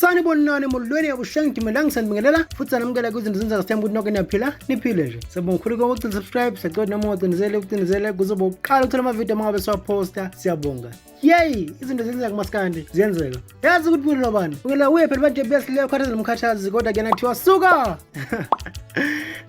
sanibonani emulilweni yabuhlanga ngidimela ngisanibingelela futhi sanamukela kwizinto zenzeka sithemba ukuthi noke niyaphila niphile nje siyabonga khulu konke ukugcina subscribe siyacela noma ungacindezele ukucindezele kuzoba ukuqala ukuthola amavidiyo uma ngabe siwaphosta siyabonga yeyi izinto zenzeka masikandi ziyenzeka yazi ukuthi mina lobani ukela uye phela banje besileyo khathazela umkhathazi kodwa kuyena kuthiwa suka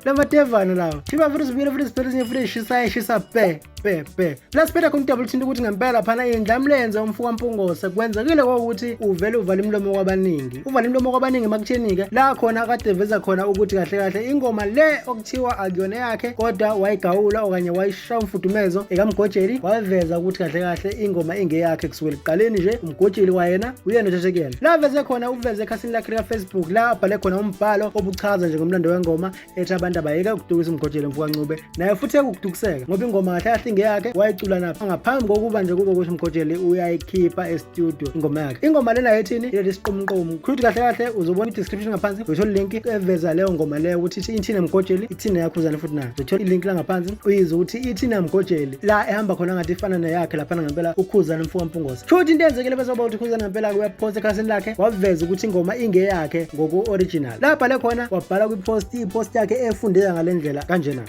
lamatevana lawa thiba futhi sibuyele futhi sithole ezinye futhi eshisayo eshisa bhe bhe bhe plus phela kumdabula uthinta ukuthi ngempela phana indlamlenze umfuka mpungose kwenzekile kokuthi uvele uvale imlomo kwabaningi uvale imlomo kwabaningi emakutheni-ke la khona kade veza khona ukuthi kahle kahle ingoma le okuthiwa akuyona yakhe kodwa wayigawula okanye wayishaya umfudumezo ekamgojeli waveza ukuthi kahle kahle ingoma ingeyakhe kusukela ekuqaleni nje umgojeli wayena uyena othathekuyena la veze khona uveze ekhasini lakhe likafacebook la abhale khona umbhalo obuchaza nje ngomlando wengoma ethi abantu abayeke ukutukisa umgojelo mfukancube naye futhi ekukutukiseka ngoba ingoma kahle kahle ingeyakhe wayicula naphi ngaphambi kokuba nje kube ukuthi umgojeli uyayikhipha estudio ingoma yakhe ingoma lena yethini ileli siqumqumu khuyuthi kahle kahle uzobona i-description ngaphansi uyithola ilink eveza leyo ngoma leyo ukuthi ithina mgojeli ithina yakhuzane futhi nayo uzothola ilink la ngaphansi uyize ukuthi ithina mgojeli la ehamba khona ngathi ifana neyakhe laphana ngempela ukhuzane mfuka mpungosa Futhi into eyenzekile bese uba uthi Khuzani ngempela uyapost ekhasini lakhe waveza ukuthi ingoma ingeyakhe ngoku-original. La bhale khona wabhala kwipost ipost yakhe efundeka ngale ndlela kanjena.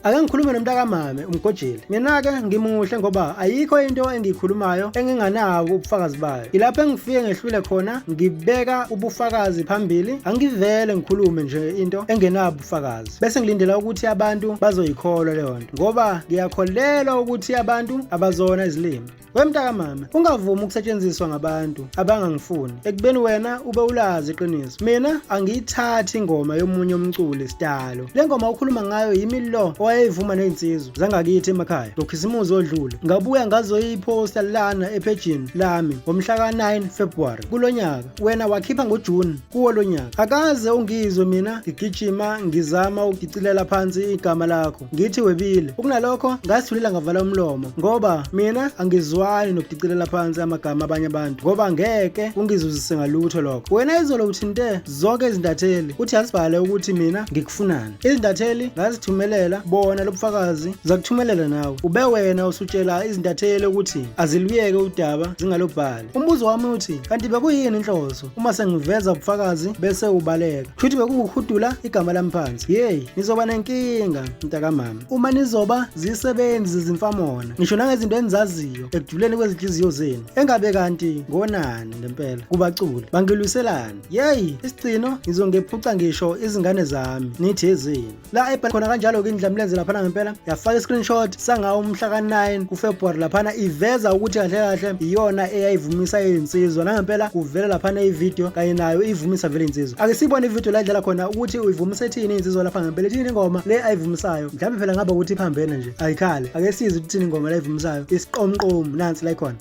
Ake ngikhulume nomntakamame umgojeli. Mina-ke ngimuhle ngoba ayikho into engiyikhulumayo enginganako ubufakazi bayo. Ilapho engifike ngehlule khona ngibeka ubufakazi phambili, angivele ngikhulume nje into engenabo ubufakazi. Bese ngilindela ukuthi abantu bazoyikholwa leyo nto ngoba ngiyakholelwa ukuthi abantu abazona izilimi. We mntakamama ungavumi ukusetshenziswa ngabantu abangangifuni ekubeni wena ube ulazi iqiniso mina angiyithathi ingoma yomunye umculi sidalo le ngoma ukhuluma ngayo yimi lo owayeyivuma ney'nsizwa zangakithi emakhaya ngokhisimuzi odlule ngabuya ngazoyiphosta lana ephejini lami ngomhla ka-9 februwari kulo nyaka wena wakhipha ngojuni kuwo lo nyaka akaze ungizwe mina ngigijima ngizama ukugicilela phansi igama lakho ngithi webile ukunalokho ngazithulela ngavala umlomo ngoba mina angizwani nokudicilela phansi amagama abanye abantu ngoba ngeke kungizuzise ngalutho lokho wena izolo uthinte zonke izintatheli uthi asibhale ukuthi mina ngikufunani izintatheli ngazithumelela bona lobufakazi zakuthumelela nawe ube wena usutshela izintatheli ukuthi aziluyeke udaba zingalobhali umbuzo wami uthi kanti bekuyini inhloso uma sengiveza ubufakazi bese ubaleka shuthi bekunguhudula igama lami phansi yeyi nizoba nenkinga mntakamama uma nizoba zisebenzi zezimfamona ngisho nangezinto enizaziyo ekujuleni kwezinhliziyo zenu engabe kanti ngonani ngempela kubaculi bangilwiselani yeyi isigcino ngizongephuca ngisho izingane zami nithi ezenu la ebhala khona kanjalo-ke indlamlenze laphana ngempela yafaka i-screenshot sangawo umhla ka-9 kufebruwari laphana iveza ukuthi kahle kahle iyona eyayivumisa iyinsizwa nangempela kuvela laphana ividiyo kanye nayo iyivumisa vele insizwa ake siyibone ividiyo la idlala khona ukuthi uyivumisa ethini insizwa lapha ngempela ethini ingoma le ayivumisayo mhlawumbe phela ngaba ukuthi iphambene nje ayikhale ake size ukuthini ingoma la ivumisayo isiqomqomu nansi la ikhona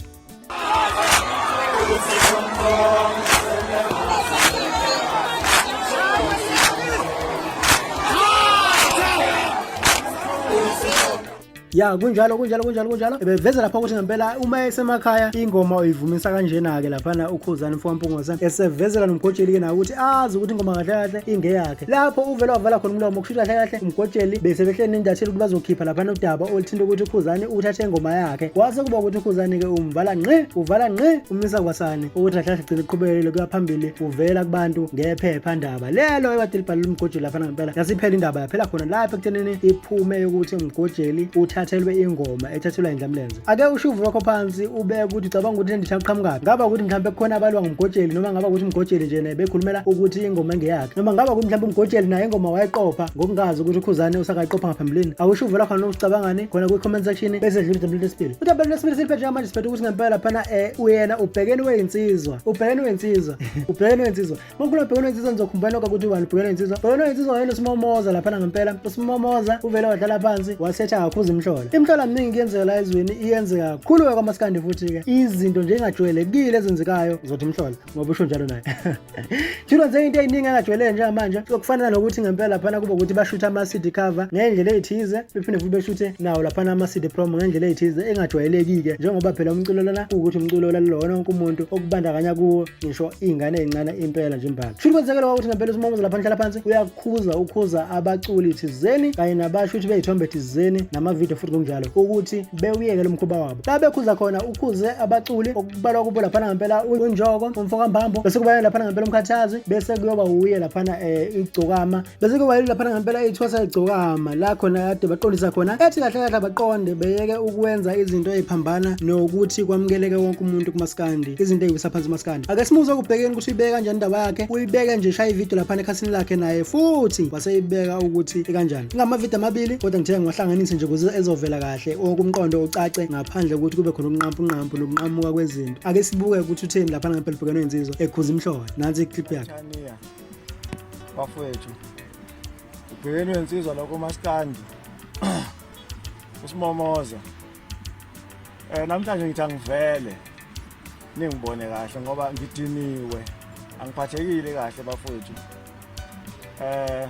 ya kunjalo kunjalo kunjalo kunjalo beveze lapha ukuthi ngempela uma esemakhaya ingoma uyivumisa kanjena-ke laphana ukhuzani mfowampungosa esevezela nomgojeli-ke nawo ukuthi azi ukuthi ingoma kahle kahle ingeyakhe lapho uvele wavala khona umlomo kusho kahle kahle umgotsheli bese behleli nendathela ukuthi bazokhipha laphana udaba oluthinta ukuthi ukhuzane uthathe ingoma yakhe kwase kuba ukuthi ukhuzane-ke umvala ngqi uvala ngqi umisa kwasane ukuthi kahle kahle gcina uqhubekele kuya phambili uvela kubantu ngephepha ndaba lelo ebade libhalele umgotsheli laphana ngempela yasiphela indaba yaphela khona lapho ekuthenini iphume yokuthi umgotsheli uthathelwe ingoma ethathelwa indlamlenze ake ushuvu lwakho phansi ubeke ukuthi ucabanga ukuthi lenditha iqhamukaphi ngaba ukuthi mhlawumbe kukhona abalwa ngumgojeli noma ngaba ukuthi umgojeli nje naye bekhulumela ukuthi ingoma engeyakhe noma ngaba ukuthi mhlawumbe umgojeli naye ingoma wayeqopha ngokungazi ukuthi ukhuzane usakayiqopha ngaphambilini awushuvu lakho noma ucabangani khona kwi-comment section bese dlula idabelo lesibili udabelo lesibili siliphethe njengamanje siphethe ukuthi ngempela laphana um uyena ubhekeni weyinsizwa ubhekeni weyinsizwa ubhekeni weyinsizwa Makhulu abhekene insizwa nizokhumbula lokho ukuthi ubani ubhekene insizwa. Bhekene insizwa wayena usimomoza lapha ngempela. Usimomoza uvele wadlala phansi wasetha kakhuza imhlola. Imhlola miningi kuyenzeka la ezweni iyenzeka kakhulu we kwamaskandi futhi ke. Izinto nje engajwayelekile ezenzekayo uzothi imhlola ngoba usho njalo naye. Jilo nje into eyiningi engajwayeleke njengamanje okufanele nokuthi ngempela lapha kuba ukuthi bashuthe ama CD cover ngendlela ezithize bephinde futhi beshuthe nawo lapha ama CD promo ngendlela ezithize engajwayelekike njengoba phela umculo lona ukuthi umculo lalona wonke umuntu okubandakanya kuwo ngisho iy'ngane ey'ncane impela nje imbala shuthi kwenzekele kwakuthi ngempela usimongozo lapha nihlala phansi uyakhuza ukhuza abaculi thizeni kanye nabasho ukuthi beyithombe thizeni namavidiyo futhi ngokunjalo ukuthi bewuyeke lo mkhuba wabo la bekhuza khona ukhuze abaculi okubalwa kubo laphana ngempela unjoko umfokambambo bese kubayena laphana ngempela umkhathazi bese kuyoba wuye laphana um igcokama bese ke wayilula phana ngempela ithwasa ligcokama la khona kade baqondisa khona ethi kahle kahle abaqonde beyeke ukwenza izinto eziphambana nokuthi kwamukeleke wonke umuntu kumaskandi izinto eziwisa phansi umaskandi ake simuze ukubhekeni ukuthi uyibeke kanjani indaba yakhe uyibeke nje shaya ivideo laphana ekhasini lakhe naye futhi waseyibeka ukuthi ikanjani ingamavideo amabili kodwa ngithe ngiwahlanganise nje kuze ezovela kahle okumqondo ucace ngaphandle kokuthi kube khona ukunqampunqampu nokunqamuka kwezinto ake sibuke ukuthi utheni laphana ngempela ubhekene nensizwa ekhuza imhlola nansi iclip yakhe bafowethu ubhekeni wensizwa lokho maskandi usimomoza eh namhlanje ngithi angivele ningibone kahle ngoba ngidiniwe angiphathekile kahle bafowethu eh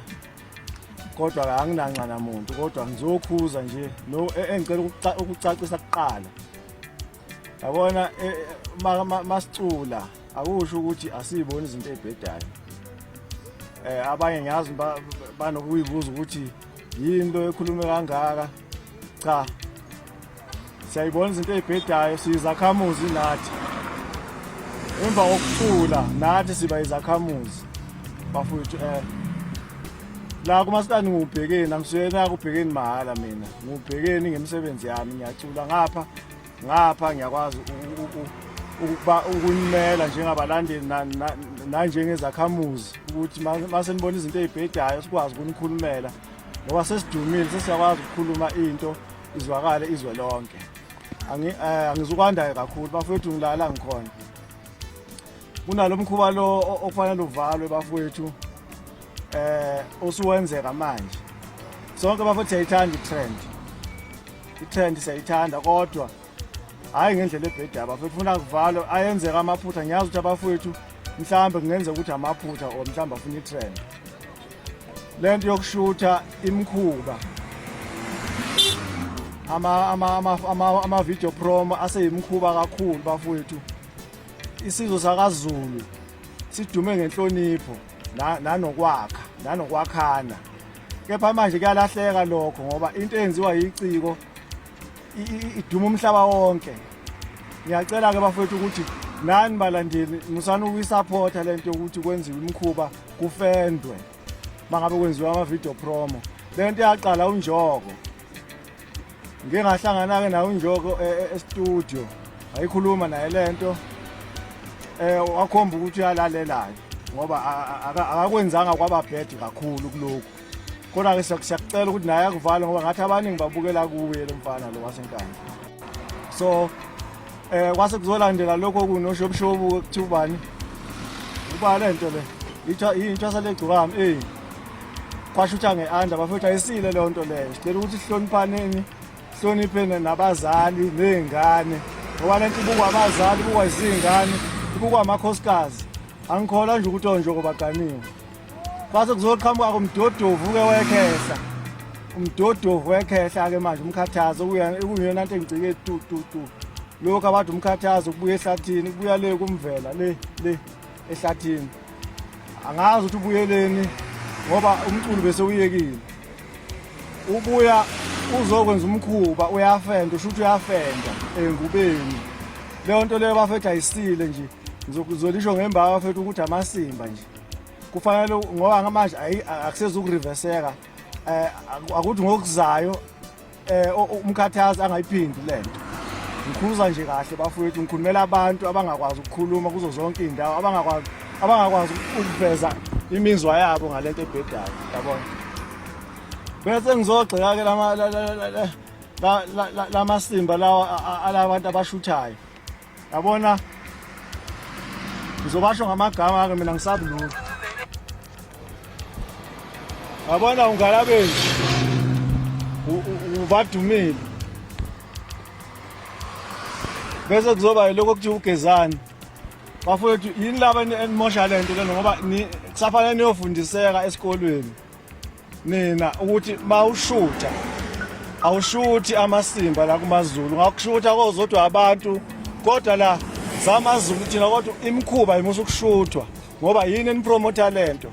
kodwa ke anginanxa namuntu kodwa ngizokhuza nje no e, engicela ukucacisa kuqala yabona eh, eh, masicula akusho ukuthi asiyiboni izinto ezibhedayo eh abanye ngiyazi banokuyibuza ukuthi yini lo ekhulume kangaka cha siyayibona izinto ezibhedayo siyizakhamuzi nathi emva kokucula nathi siba izakhamuzi bafowethu eh la kumasikani ngubhekeni angisuyena kubhekeni mahhala mina ngubhekeni ngemisebenzi yami ngiyacula ngapha ngapha ngiyakwazi ukuba ukunimela njengabalandeli nanjengezakhamuzi ukuthi mase nibona izinto ezibhedayo sikwazi ukunikhulumela ngoba sesidumile sesiyakwazi ukukhuluma into izwakale izwe lonke eh, angizukwandayo kakhulu bafowethu ngilala ngikhona kunalo mkhuba lo okufanele uvalwe bafowethu eh usuwenzeka manje sonke bafowethu siyayithanda i-trend Ithende siyayithanda kodwa hhayi ngendlela ebheda abafethu funa kuvalo ayenzeka amaphutha ngiyazi ukuthi abafowethu mhlawumbe kungenzeka ukuthi amaphutha or mhlawumbe afuna itrend le nto yokushutha imikhuba ama-video promo aseyimikhuba kakhulu bafowethu isizwe sakazulu sidume ngenhlonipho nanokwakha nanokwakhana kepha manje kuyalahleka lokho ngoba into eyenziwa yiciko iduma umhlaba wonke ngiyacela-ke bafowethu ukuthi nani balandeli musani ukuyisapotha le nto yokuthi kwenziwe imikhuba kufendwe uma ngabe kwenziwa ama-video promo le nto yaqala unjoko ngike ngahlangana-ke nawo unjoko e, e, estudio ayikhuluma naye le nto um wakhomba ukuthi uyalalelayo ngoba akakwenzanga kwaba bhedi kakhulu kulokhu kodwa-ke siyakucela ukuthi naye akuvale ngoba ngathi abaningi babukela kuye lo mfana lo wasenkandla so Eh kwase kuzolandela lokho kunoshobushobu kuthiwa ubani? Uba le nto le. Itha into salegcokami eh. Kwashutha ngeanda bafethu ayisile le nto leyo. Sicela ukuthi sihloniphaneni, sihloniphene nabazali nezingane. Ngoba le nto ibukwa abazali, ibukwa izingane, ibukwa amakhosikazi. Angikholwa nje ukuthi onje kobaganiwe. Kwase kuzoqhamuka kumdodovu ke wekhehla. Umdodovu wekhehla ke manje umkhathazo kuyona nto engicike tu tu tu. Lokho abathi umkhathazo kubuya ehlathini, kubuya le kumvela le le ehlathini. Angazi ukuthi ubuyeleni ngoba umculo bese uyekile. Ubuya uzokwenza umkhuba uyafenda usho ukuthi uyafenda engubeni. Leyo nto leyo bafethu ayisile nje. Ngizolisho ngembawa fethu ukuthi amasimba nje. kufanele ngoba ngamanje akusezi ukuriveseka um eh, akuthi ngokuzayo um umkhathazi angayiphindi le nto ngikhuluza nje kahle bafowethu ngikhulumela abantu abangakwazi ukukhuluma kuzo zonke iy'ndawo abangakwazi abangakwazi ukuveza imizwa yabo ngale nto ebhedayo yabona bese ngizogxeka-ke lamasimba lawa alabantu abashuthayo yabona ngizobasho ngamagama ake mina ngisabi lutho yabona ungalabeni ubadumile bese kuzoba yilokho kuthiwa ugezani bafowethu yini laba enimosha le nto lena ngoba kusafanele niyofundiseka esikolweni mina ukuthi mawushutha awushuthi amasimba la kumaZulu ngakushutha kozodwa abantu kodwa la zamaZulu thina kodwa imikhuba imusa ukushuthwa ngoba yini enipromota lento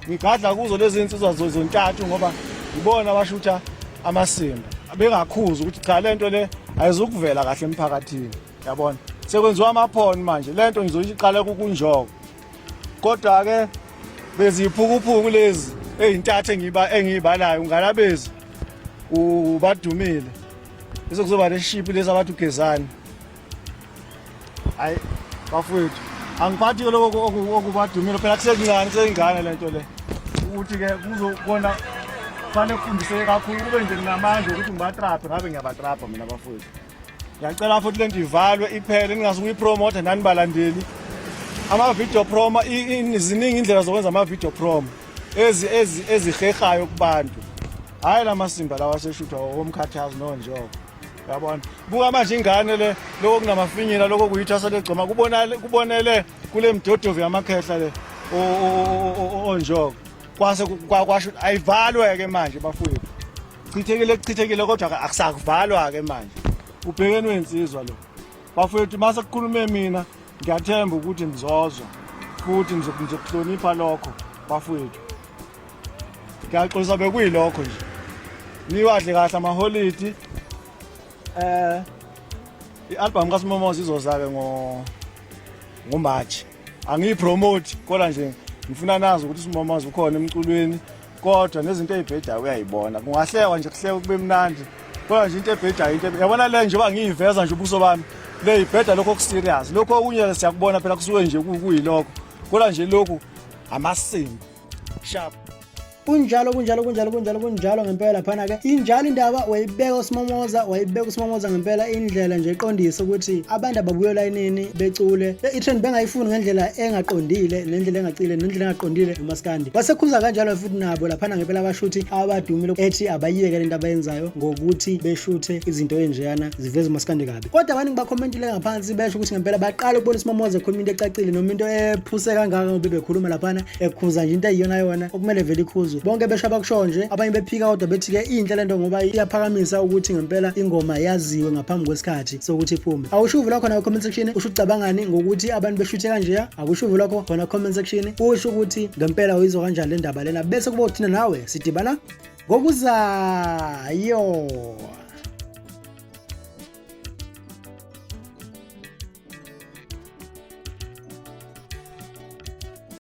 ngigadla kuzo lezi nsizwa zontathu ngoba ngibona abashutha amasimba bengakhuza ukuthi cha lento le ayizukuvela kahle emphakathini yabona sekwenziwa amaphoni manje lento ngizoyiqala kukunjoko kodwa ke beziphukuphuku lezi ezintathu engiba engiyibalayo ungalabezi ubadumile bese kuzoba neshipi lezi abathi ugezani hayi bafowethu angiphathi ke lokho okubadumile phela kusekuncane kuseyingane le nto le ukuthi ke kuzokona kufanele kufundiseke kakhulu kube nje nginamandla ukuthi ngibatraphe ngabe ngiyabatrapha mina bafowethu ngiyacela futhi lento ivalwe iphele ningazukuyi promote nani balandeli ama video promo ziningi indlela zokwenza ama video promo ezi ezi ezihehayo kubantu hayi lamasimba lawa seshutha omkhathazi nonjoko yabona buka manje ingane le lokho kunamafinyila lokho kuyithasa legcoma kubonale kubonele kule mdodovu yamakhehla le onjoko kwase kwasho ayivalwe ke manje bafowethu Chithekile kuchithekile kodwa ke akusakuvalwa ke manje. Ubhekeni wensizwa lo. Bafowethu mase kukhulume mina ngiyathemba ukuthi nizozwa futhi nizokuhlonipha lokho bafowethu. Ngiyaxolisa bekuyilokho nje. Niwadle kahle amaholidi. Eh i-album kaSimomoza izoza ke ngo ngo March. Angiyipromote kodwa nje ngifuna nazi ukuthi uSimomoza ukhona emculweni. kodwa nezinto ey'bhedayo uyayibona kungahlekwa nje kuhleka kube mnandi kodwa nje into ebhedayo into yabona le njengoba ngiyiveza nje ubuso bami le ibheda lokho okuserious lokho okunye siyakubona phela kusuke nje kuyilokho kodwa nje lokhu amasimbi sharp kunjalo kunjalo kunjalo kunjalo kunjalo ngempela phana ke injalo indaba wayibeka uSimomoza wayibeka uSimomoza ngempela indlela nje eqondisa ukuthi abantu ababuye layinini becule i-trend bengayifuni ngendlela engaqondile nendlela engacile nendlela engaqondile maskandi wasekhuza kanjalo futhi nabo laphana ngempela abashuthi abadumile ethi abayiyeke lento abayenzayo ngokuthi beshuthe izinto enjeyana ziveza umaskandi kabi kodwa abaningi bakhomentile ngaphansi besho ukuthi ngempela baqala ukubona usimamoza ekhuluma into ecacile noma into ephuse kangaka ngoba bekhuluma laphana ekhuza nje into eyiyona yona okumele vele ikhuzwe bonke besho abakushoyo nje abanye bephika kodwa bethi-ke inhle le nto ngoba iyaphakamisa ukuthi ngempela ingoma yaziwe ngaphambi kwesikhathi sokuthi iphume awusho uvula khona comment section usho ucabangani ngokuthi abantu beshuthe kanjeya akusho uvula ko khona comment section usho ukuthi ngempela uyizwa kanjani le ndaba lena bese kuba uthina nawe sidibana ngokuzayo